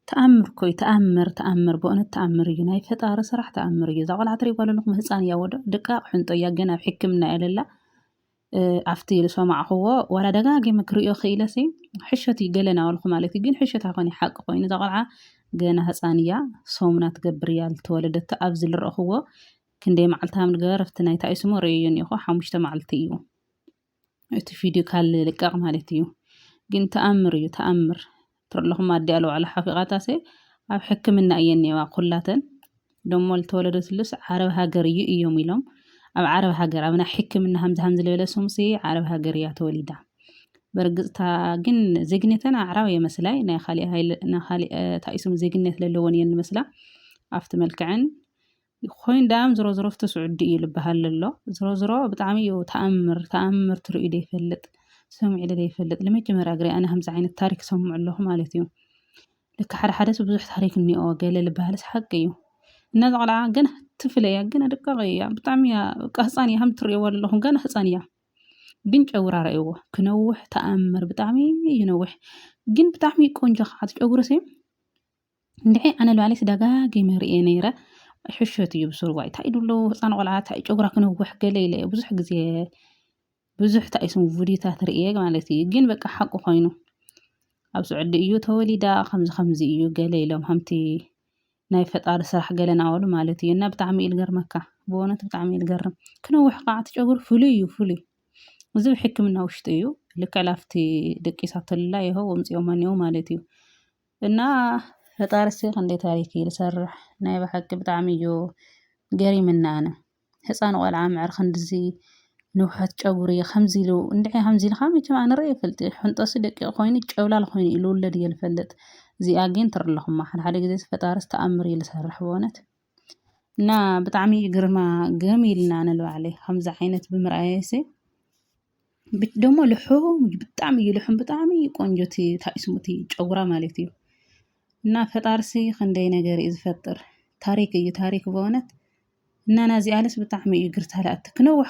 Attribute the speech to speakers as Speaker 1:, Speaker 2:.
Speaker 1: ተኣምር እኮ እዩ ተኣምር ተኣምር በእውነት ተኣምር እዩ ናይ ፈጣሪ ስራሕ ተኣምር እዩ እዛ ቆልዓ ትሪእዋ ኣለኹም ህፃን እያ ወደ ድቃቅ ሕንጦ እያ ገና ኣብ ሕክምና እያ ለላ ኣብቲ ዝሰማዕኽዎ ዋላ ደጋጊመ ክሪኦ ክኢለሲ ሕሸት እዩ ገለና ወልኩ ማለት እዩ ግን ሕሸት ኣይኮነ ሓቂ ኮይኑ እዛ ቆልዓ ገና ህፃን እያ ሰሙና ትገብር እያ ዝተወለደቶ ኣብዚ ዝረእኽዎ ክንደይ መዓልቲ ሃም ንገበር ኣብቲ ናይታ እዩ ስሙ ርእዮ እኒኹ ሓሙሽተ መዓልቲ እዩ እቲ ቪድዮ ካል ልቀቕ ማለት እዩ ግን ተኣምር እዩ ተኣምር ትርለኹም ኣዲ ኣለዋዕላ ሓፊቓታሰ ኣብ ሕክምና እየን ነዋ ኩላተን ደሞ ልተወለደ ስሉስ ዓረብ ሃገር እዩ እዮም ኢሎም ኣብ ዓረብ ሃገር ኣብና ሕክምና ሃምዚ ሃምዚ ልበለ ሱምሲ ዓረብ ሃገር እያ ተወሊዳ በርግፅታ ግን ዜግነተን ኣዕራብ የመስላይ ናይ ካሊእ ታኢሱም ዜግነት ለለዎን እየን ንመስላ ኣብቲ መልክዐን ኮይን ዳኣም ዝሮ ዝሮ ፍቲ ስዑዲ እዩ ልባሃል ለሎ ዝሮ ዝሮ ብጣዕሚ እዩ ታኣምር ታኣምር ትርእዩ ደይፈልጥ ሰሚዑ ለ ደይፈልጥ ልመጀመርያ ግርይ ኣነ ከምዚ ዓይነት ታሪክ ሰምዑ ኣለኹ ማለት እዩ ልክ ሓደ ሓደ ሰብ ብዙሕ ታሪክ እኒኦ ገለ ልባሃልስ ሓቂ እዩ እና እዛ ቆልዓ ገና ትፍለ እያ ገና ደቃቂ እያ ብጣዕሚ እያ በቃ ህፃን እያ ከም ትርእይዎ ዘለኹም ገና ህፃን እያ ግን ጨጉራ ረእይዎ ክነውሕ ተኣምር ብጣዕሚ ይነውሕ ግን ብጣዕሚ ቆንጆ ከዓ ጨጉሪ ሲ እንድዒ ኣነ ባዕለይስ ደጋጊመ ርእየ ነይረ ሕሾት እዩ ብሱሩ ዋይ እንታይ ኢሉ ኣሎ ህፃን ቆልዓ እንታይ እዩ ጨጉራ ክነውሕ ገለ ኢለ እየ ብዙሕ ግዜ ብዙሕ እንታይ እዩ ስሙ ቪድዮታት ርእየ ማለት እዩ ግን በቃ ሓቁ ኮይኑ ኣብ ስዑዲ እዩ ተወሊዳ ከምዚ ከምዚ እዩ ገለ ኢሎም ከምቲ ናይ ፈጣሪ ስራሕ ገለ ናበሉ ማለት እዩ እና ብጣዕሚ እዩ ዝገርመካ ብእውነት ብጣዕሚ እዩ ዝገርም ክነውሕ ከዓ እቲ ጨጉሪ ፍሉይ እዩ ፍሉይ እዚ ብሕክምና ውሽጢ እዩ ልክዕ ላፍቲ ደቂሳተላ ይኸው ወምፂኦማ እኒኦ ማለት እዩ እና ፈጣሪሲ ክንደይ ታሪክ እዩ ዝሰርሕ ናይ ብሓቂ ብጣዕሚ እዩ ገሪምኒ ኣነ ህፃን ቆልዓ ምዕር ክንድዚ ንውሐት ጨጉሪ ከምዚ ኢሉ እንድዒ ከምዚ ኢልካ መቸም ኣነ ርእየ ይፈልጥ ሕንጠሱ ደቂቅ ኮይኑ ጨብላል ኮይኑ እዩ ዝውለድ እየ ዝፈልጥ እዚኣ ግን ትሪ ኣለኹማ ሓድሓደ ግዜሲ ፈጣሪስ ተኣምር እዩ ዝሰርሕ በእውነት እና ብጣዕሚ እዩ ግርማ ግርም ኢልና ንባዕለ ከምዚ ዓይነት ብምርኣየሰ ደሞ ልሑም ብጣዕሚ እዩ ልሑም ብጣዕሚ እዩ ቆንጆ እቲ ታይ ስሙ እቲ ጨጉራ ማለት እዩ እና ፈጣርሲ ክንደይ ነገር እዩ ዝፈጥር ታሪክ እዩ ታሪክ በእውነት እና ናዚ ኣልስ ብጣዕሚ እዩ ግርታለኣቲ ክነውሕ